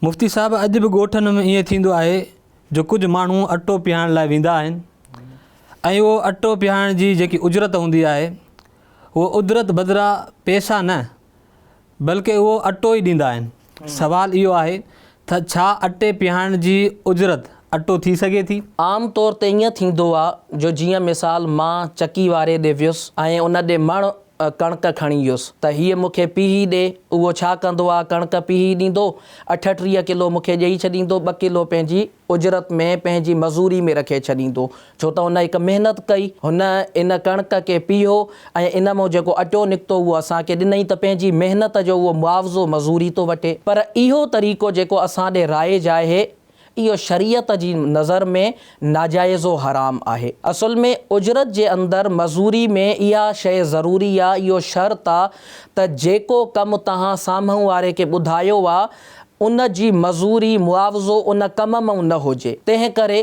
مفتي صاحب اڄ به ڳوٺن ۾ ائين ٿيندو آهي جو ڪجهه ماڻهو اٽو پيهائڻ لاء ويندا آهن ۽ اهو اٽو پيهائڻ جي جيڪي اجرت هوندي آهي اهو اجرت بدران پيسا نه بلڪه اهو اٽو ئي ڏيندا آهن سوال اهو آهي تھ ڇا اٽي پيهائڻ جي اجرت اٽو ٿي سگهي ٿي؟ عام طور تي ائين ٿيندو آ جو جيئن مثال مان چڪي واري ڏي ويس ۽ ان ڏي مڻ ڪڻڪ کڻي يس ته هيء مون کي پيهي ڏي. اهو ڇا ڪندو آ؟ ڪڻڪ پيهي ڏيندو. اٺ ٽيهه ڪلو مون کي ڏيئي ڇڏيندو. ٻه ڪلو پنهنجي اجرت ۾، پنهنجي مزوري ۾ رکي ڇڏيندو. ڇو ته هن هڪ محنت ڪئي. هن ان ڪڻڪ کي پيهيو ۽ ان مان جيڪو اٽو نڪتو اهو اسان کي ڏنئي ته پنهنجي محنت جو اهو معاوضو مزوري ٿو وٺي. پر اهو طريقو جيڪو اسان ڏي رائج آهي، اهو شريعت جي نظر ۾ ناجائز و حرام آهي. اصل ۾ اجرت جي اندر، مزوري، ۾ اها شيء ضروري آ، اهو شرط آ ته جيڪو ڪم توهان سامهون واري کي ٻڌايو آ، ان جي مزوري، معاوضو، ان ڪم مئن نه هجي. تنهن ڪري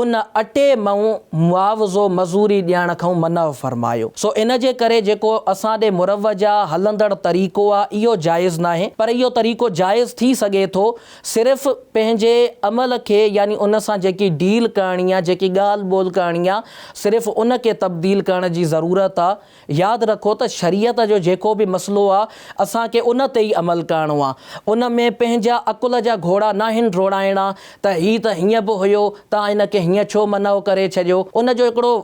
ان اٽي ۾ معاوضو مزوري ڏيڻ کان منع فرمايو سو ان جي ڪري جيڪو اسان ڏي مروجه هلندڙ طريقو آهي اهو جائز ناهي پر اهو طريقو جائز ٿي سگهي ٿو صرف پنهنجي عمل کي يعني ان سان جيڪي ڊيل ڪرڻي آهي جيڪي ڳالهه ٻولهه ڪرڻي آهي صرف ان کي تبديل ڪرڻ جي ضرورت آهي ياد رکو ته شريعت جو جيڪو به مسئلو آ اسان کي ان تي ئي عمل ڪرڻو آ ان ۾ پنهنجا عقل جا گهوڙا ناهن ڊوڙائڻا ته هي ته هيئن به هيو تان ان کي هيئن ڇو منع ڪري ڇڏيو ان جو هڪڙو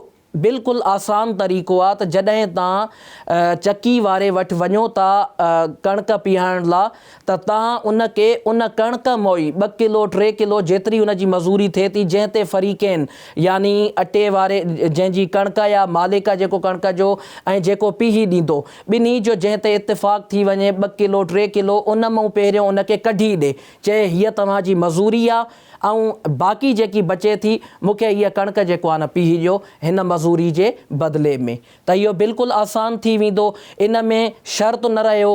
بلڪل آسان طريقو آ ته جڏهن تان چڪي واري وٽ وڃو ٿا ڪڻڪ پيهائڻ لا ته تان ان کي ان ڪڻڪ موئي ٻه ڪلو ٽي ڪلو جيتري ان جي مزوري ٿئي ٿي جنهن تي فريقين يعني اٽي واري جنهن جي ڪڻڪ يا مالڪ آ جيڪو ڪڻڪ جو ۽ جيڪو پيهي ڏيندو ٻنهي جو جنهن تي اتفاق ٿي وڃي ٻه ڪلو ٽي ڪلو ان مئون پهريون ان کي ڪڍي ڏي چئي هيء توهان جي مزوري آ ۽ باقي جيڪي بچي ٿي مون کي هيء ڪڻڪ جيڪو آ نه پيهي ڏيو هن مزوري جي بدلي ۾. ته اهو بلڪل آسان ٿي ويندو، ان ۾ شرط نه رهيو،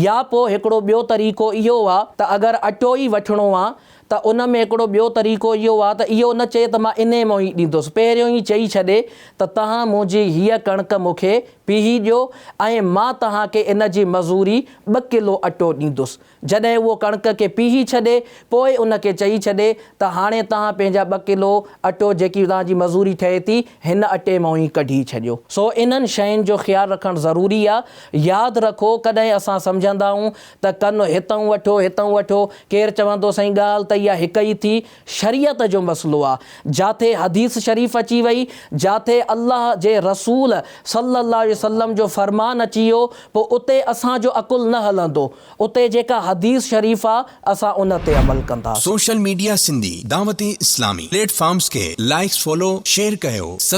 يا پوء هڪڙو ٻيو طريقو اهو آ ته اگر اٽو ئي وٺڻو آ ته ان ۾ هڪڙو ٻيو طريقو اهو آ ته اهو نه چئي ته مان انهي مان ئي ڏيندس، پهريون ئي چئي ڇڏي ته توهان منهنجي هيء ڪڻڪ مون کي پيهي ڏيو ۽ مان توهان کي ان جي مزوري ٻه ڪلو اٽو ڏيندس. جڏهن اهو ڪڻڪ کي پيهي ڇڏي، پوء ان کي چئي ڇڏي ته هاڻي توهان پنهنجا ٻه ڪلو اٽو جيڪي توهان جي مزوري ٺهي ٿي، هن اٽي مان ئي ڪڍي ڇڏيو. سو انهن شين جو خيال رکڻ ضروري آ. ياد رکو ڪڏهن اسان سمجهندا آهون ته ڪن هتئون وٺو هتئون وٺو، ڪير چوندو سائين ڳالهه ته اها هڪ ئي ٿي، شريعت جو مسئلو آ، جاٿي حديث شريف اچي وئي، جاٿي الله جي رسول صلّي الله عليه وسلّم جو فرمان اچي ويو، پوء اتي اسان جو عقل نه هلندو، اتي جيڪا حديث شريف آ، اسان ان تي عمل ڪنداسين. Social media Sindhi Dawat Islami platforms کي لائيڪس فالو شيئر ڪيو.